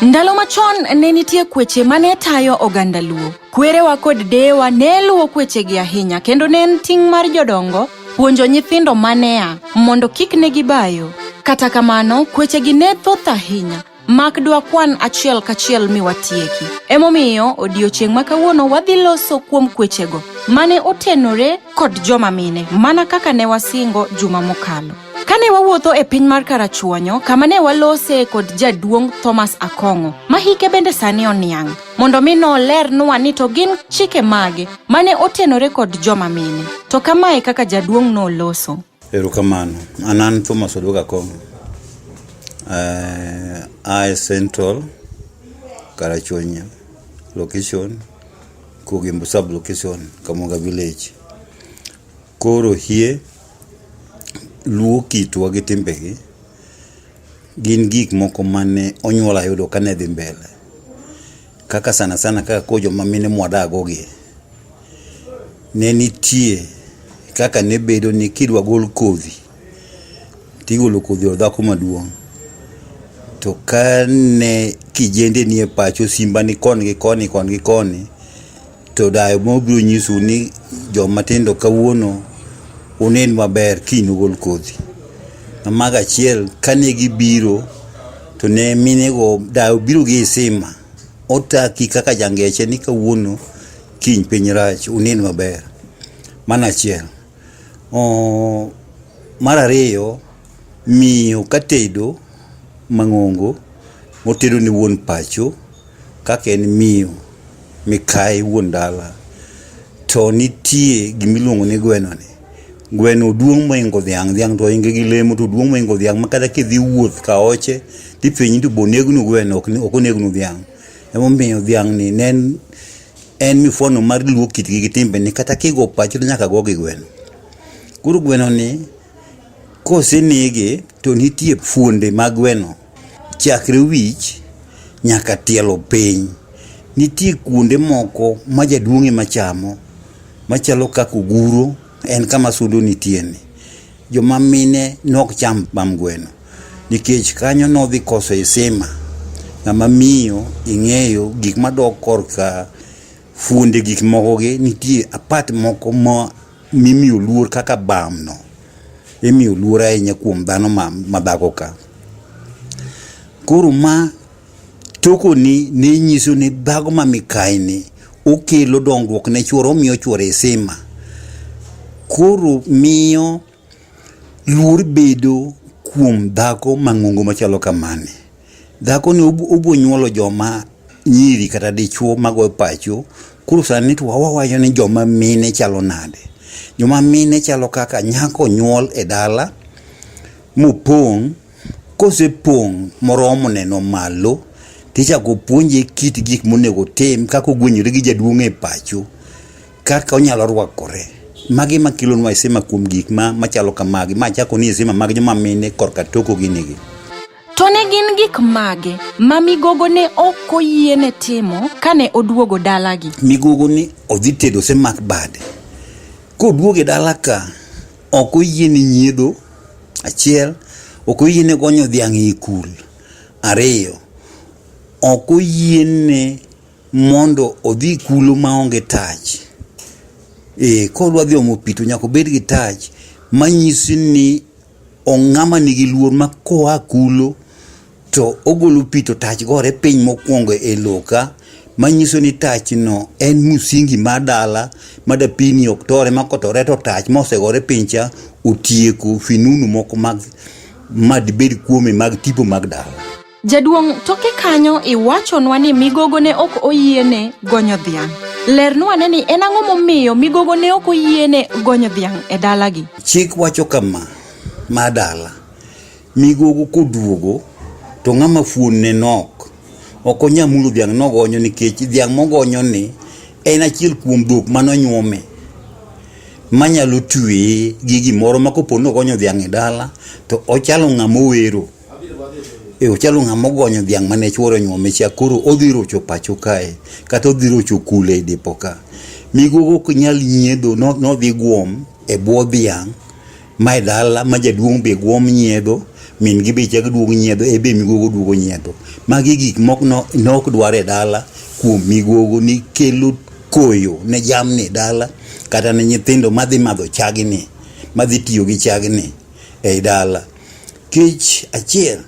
Ndalo machon ne nitie kweche ma ne tayo oganda Luo. Kwerewa kod deyewa ne luwo kwechegi ahinya kendo ne en ting' mar jodongo puonjo nyithindo ma ne a mondo kik ne gibayo. Kata kamano, kwechegi ne thoth ahinya mak dwakwan achiel kachiel mi watieki. Emomiyo odiechieng' ma kawuono wadhi loso kuom kwechego mane otenore kod joma mine mana kaka ne wasingo juma mokalo. Kane wawuotho e piny mar Karachuonyo, kama ne walose kod jaduong' Thomas Akong'o, ma hike bende sani oniang', mondo mi nolernwa ni to gin chike mage mane otenore kod joma mine. To kamae kaka jaduong' noloso. Erokamano. An an Thomas Oduoga Kong. Uh, eh, I Central Karachuonyo location Kugimbo sub location Kamoga village. Koro hie, luo kitwa gi timbegi gin gik moko mane onyuola yudo kane dhi mbele. Kaka sana sana kaka koro joma mine mwadago gi, ne nitie kaka ne bedo ni kidwa gol kodhi, tigolo kodhi od dhako maduong'. To kane kijende nie pacho, simba ni koni gi koni, koni gi koni, To dayo mobiro nyisou ni joma tindo kawuono unen maber kiny ugol kodhi. Mamago achiel kane gibiro to ne minego dayo biro gi isima otaki kaka jangeche ni kawuono kiny piny rach unen maber. Mano achiel. Oh, mar ariyo miyo katedo mang'ongo motedo ne wuon pacho kaka en miyo mikayi wuon dala to nitie gima iluongo ni gwenoni. Gweno duong' mohingo dhiang', dhiang' to ohinge gi lemo to oduong' mohingo dhiang' ma kata kidhi wuoth ka oche to ipenji ni to be onegnu gweno ok onegnu dhiang'. Emomiyo dhiang' ni ne en en mifwano mar luo kitgi gi timbeni kata kigo pacho to nyaka go gi gweno. Koro gwenoni kosenege to nitie fuonde mag gweno Chakre wich nyaka tielo piny. Nitie kuonde moko ma jaduong' ema chamo machalo kaka oguro en kama sudo nitieni. Joma mine nok cham bam gweno nikech kanyo nodhi koso isima. Ng'ama miyo ing'eyo gik madok korka Fuonde gik mokogi nitie apat moko ma mimiyo luor kaka bamno imiyo luor ahinya kuom dhano ma, ma dhako ka koro ma tokoni ne nyiso ni dhago ma mikaini okelo dongruok ne chuore omiyo chuore sima koro miyo Luor bedo kuom dhako mang'ongo machalo kamani. Dhako ni obo nyuolo joma nyiri kata dichuo mago pacho. Koro sani to wawacho ni joma mine chalo nade. Joma mine chalo kaka nyako nyuol e dala mopong'. Kosepong' moromo neno malo tichako puonje kit gik monego otim kaka ogwenyore gi jaduong' e pacho. Kaka onyalo rwakore. Magi ma kilo nwa isema kuom gik ma machalo kamagi. Ma chako ni isema mag joma mine korka toko gini gi. To ne gin gik mage ma migogo ne ok oyiene timo kane oduogo dalagi? Migogo ni odhi tedo osemak bade. Koduogo e dala ka, ok oyiene nyiedho, achiel, ok oyiene gonyo dhiang' e kul, ariyo, ok oyiene mondo odhi kulo maonge tach. E, kodwa dhi omo pi to nyaka obed gi tach manyisi ni ong'ama nigi luor ma koa kulo to ogolo pi to tach gore piny mokwongo e loka manyiso ni tachno en musingi mar dala ma dapini ok tore ma kotore to tach mosegore piny cha otieko finunu moko mag madibed kuome mag tipo mag dala. Jaduong' toke kanyo iwachonwa ni migogo ne ok oyiene gonyo dhiang'. Lernwa ne ni en ang'o momiyo migogo ne ok oyiene gonyo dhiang' e dalagi. Chik wacho kama, ma dala, migogo koduogo to ng'ama fuon ne nok, ok onya mulo dhiang' nogonyo nikech dhiang' mogonyo ni en achiel kuom dhok manonyuome manyalo tweye gi gimoro ma kopo nogonyo dhiang' e dala to ochalo ng'ama owero. e ochalo ng'ama ogonyo dhiang' mane chuore nyuome cha koro odhi rocho pacho kae kata odhi rocho kule e depo ka migogo ok nyal nyiedho nodhi guom e bwo dhiang' ma e dala ma jaduong' be guom nyiedho min gi be chak duogo nyiedho e be migogo duogo nyiedho magi gik mok nok dwar e dala kuom migogo ni kelo koyo ne jamni e dala kata ne nyithindo madhi madho chagni madhi tiyo gi chagni e dala Kech achiel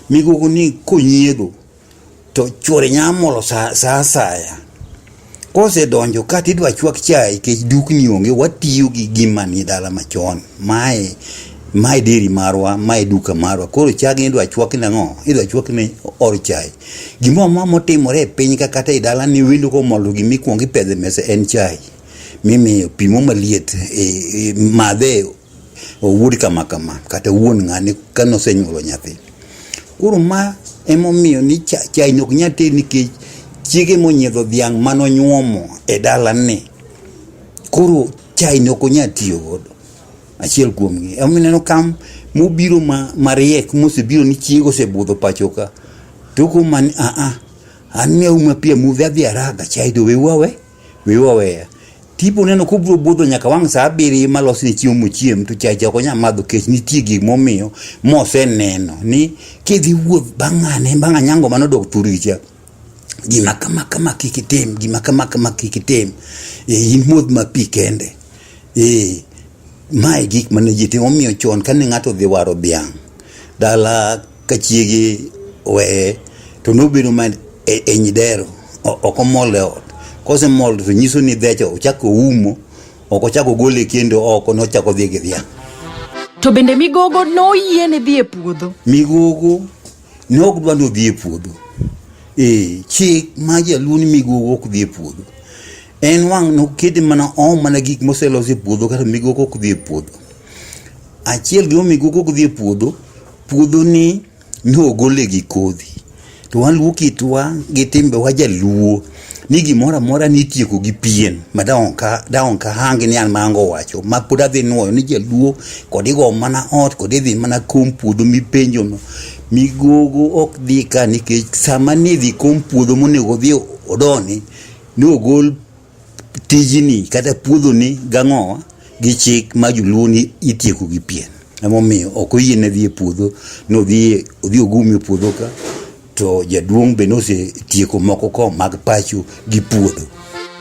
migogo ni konyiego to chuore nyamolo sa asaya kosedonjo ka tidwa chwak chai kech dukni onge watiyo gi gima ni dala machon mae mae deri marwa mae duka marwa koro chagi idwa chwak ne ang'o idwa chwak ne or chai gimoro ma motimore e piny ka kata e dala ni wendo komolo gima ikwongo ipedhe mesa en chai mimiyo pimo maliet e, e, madhe owuod kama kama kata wuon ng'ane ka nosenyuolo nyathi. Koro ma emomiyo ni chai nok nyal ted nikech chiege monyiedho dhiang' manonyuomo e dalane. Koro chai nok onyal tiyo godo. Achiel kuom gi. Emomiyo ineno ka mobiro ma mariek mosebiro ni chiege osebudho pacho ka. Toko man a a. An ne auma pi amudho adhi araga chai to weuru awe. Wiwa weya. Tipo neno kubro budho nyaka wang' saa abiriyo malos ni chiemo mochiem to chacha ok onyal madho kech nitie gik momiyo moseneno ni kidhi wuoth bang'ane bang' anyango mano dok turicha gima kama kama kik itim gima kama kama kik itim e in modh ma pi kende e mae gik mane ji timo omiyo chon kane ng'ato dhi waro dhiang' dala ka chiege oweye to nobedo man e, e nyidero o- ok omol e ot kosemol to nyiso ni dhecho ochako oumo ok ochako gole kendo oko nochako dhi gi dhiang' To bende migogo noyiene dhi e puodho. migogo ne ok dwa ni odhi e puodho ee chik ma jaluo ni migogo ok dhi e puodho en wang' nokete mana oom mana gik moselos e puodho kata migogo ok dhi e puodho achiel gima migogo ok dhi e puodho Puodhoni nogole gi kodhi to waluo kitwa gi timbewa jaluo ni gimoro amora nitieko gi pien ma daonka hangi ni an mango wacho ma pod adhi nuoyo ni jaluo kod igo mana ot kod idhi mana kom puodho mipenjono migogo ok dhi ka nikech sama nidhi kom puodho monego odhi odoni nogol tijini kata puodhoni gang'owa gi chik ma joluo ni itieko gi pien emomiyo ok oyiene dhi e puodho nodhi odhi ogumi e puodho ka to jaduong' be nosetieko moko ko mag pacho gi puodho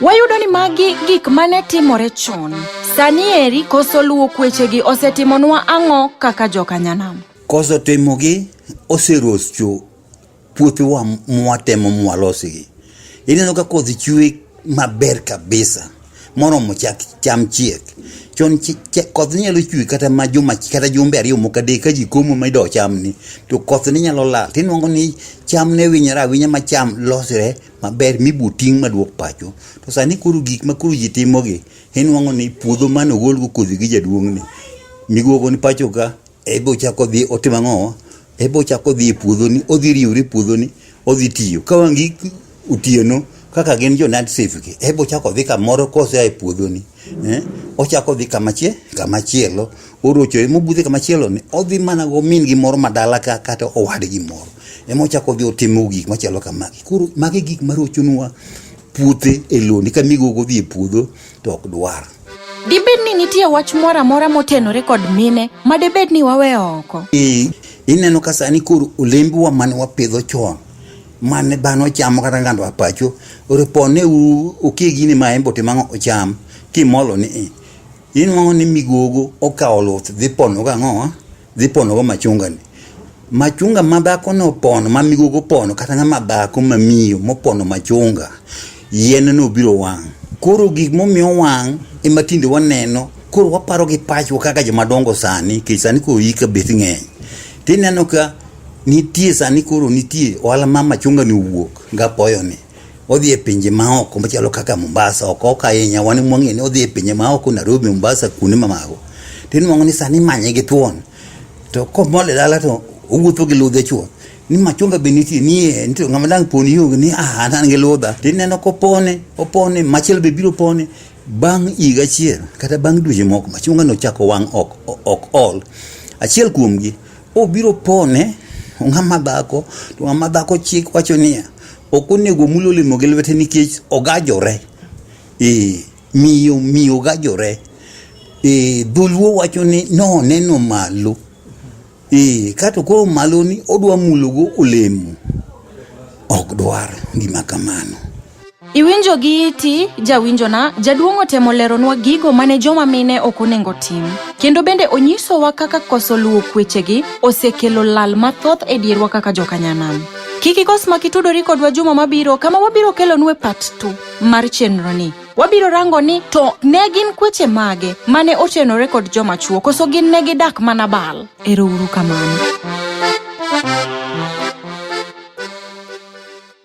Wayudo ni magi gik mane timore chon. Sani eri koso luwo kwechegi osetimonwa ang'o kaka jokanyanam? koso timogi oserocho Puothewa mwatemo mwalosigi, ineno ka kodhi chwe maber kabisa moromo chak cham chiek chon koth nyalo chwe kata ma juma kata jumbe ariyo moko adek ka ji komo ma ido chamni to koth ne nyalo lal tinwang'o ni cham ne winyore awinya ma cham losre maber mibo ting' maduok pacho to sani koro gik ma koro ji timogi inwang'o ni puodho mane ogolgo kodhi gi jaduong'ni migogo ni pacho ka ebe ochako dhi otimo ang'o Ebe ochako odhi e puodhoni, odhi riwre e puodhoni, odhi tiyo. Ka wang' gi otieno kaka gin jo Nad Safe gi, ebe ochako odhi kamoro kosea e puodhoni. Eh, ochako odhi kamachie, kamachielo, orocho ema obudhe kamachielo ni, odhi mana go min gi moro madala ka kata owadgi moro. Ema ochako odhi otimo gik machalo kamagi. Koro magi gik marochonwa puothe e loni ka migogo dhi e puodho to ok dwar Dibed ni nitie wach moro amora motenore kod mine ma debed ni waweyo oko? I- ineno ka sani koro olembewa mane wapidho chon mane dhano chamo kata ngando apacho ripone u okie gini ma en bote mang'o ocham kimolo ni i inwang'o ni migogo okawo luth dhi pono gang'owa dhi ponogo machungani machunga ma dhako no pono ma migogo pono kata ng'ama dhako ma miyo mopono machunga yien no biro wang' koro gik momiyo wang' ema tinde waneno koro waparo gi pachwa kaka joma dongo sani kech sani koro yika beth ng'eny tineno ka nitie sani koro nitie ohala ma machunga ni owuok gapoyo ni odhi e pinje maoko machalo kaka Mombasa ok ok ahinya wan mwang'e ni odhi e pinje maoko Nairobi Mombasa kuonde mamago to inwang'o ni sani manye gi thuon to komole dala to owuotho gi ludhe chuo ni machunga be nitie nie nitie ng'ama dang' poni yo ni ah an gi ludha to ineno kopone opone machielo be biro pone bang' higa achiel kata bang' dweche moko machunga no chako wang' ok ok ol achiel kuomgi Obiro pone ng'ama dhako to ng'ama dhako chik wacho niya ok onego omul olemo gi lwete nikech ogajore e, miyo miyo ogajore e, dholuo wacho ni noneno malo e, kato koro maloni odwa mulogo olemo ok dwar gima kamano Iwinjo gi iti, jawinjona, jaduong' otemo leronwa gigo mane joma mine ok onengo tim. Kendo bende onyisowa kaka koso luwo kwechegi osekelo lal mathoth e dierwa kaka jokanyanam. Kik ikos mak itudori kodwa juma mabiro kama wabiro kelonue part 2 mar chenroni. Wabiro rango ni to ne gin kweche mage mane otenore kod joma chuo koso gin ne gidak mana bal. Ero uru kamano.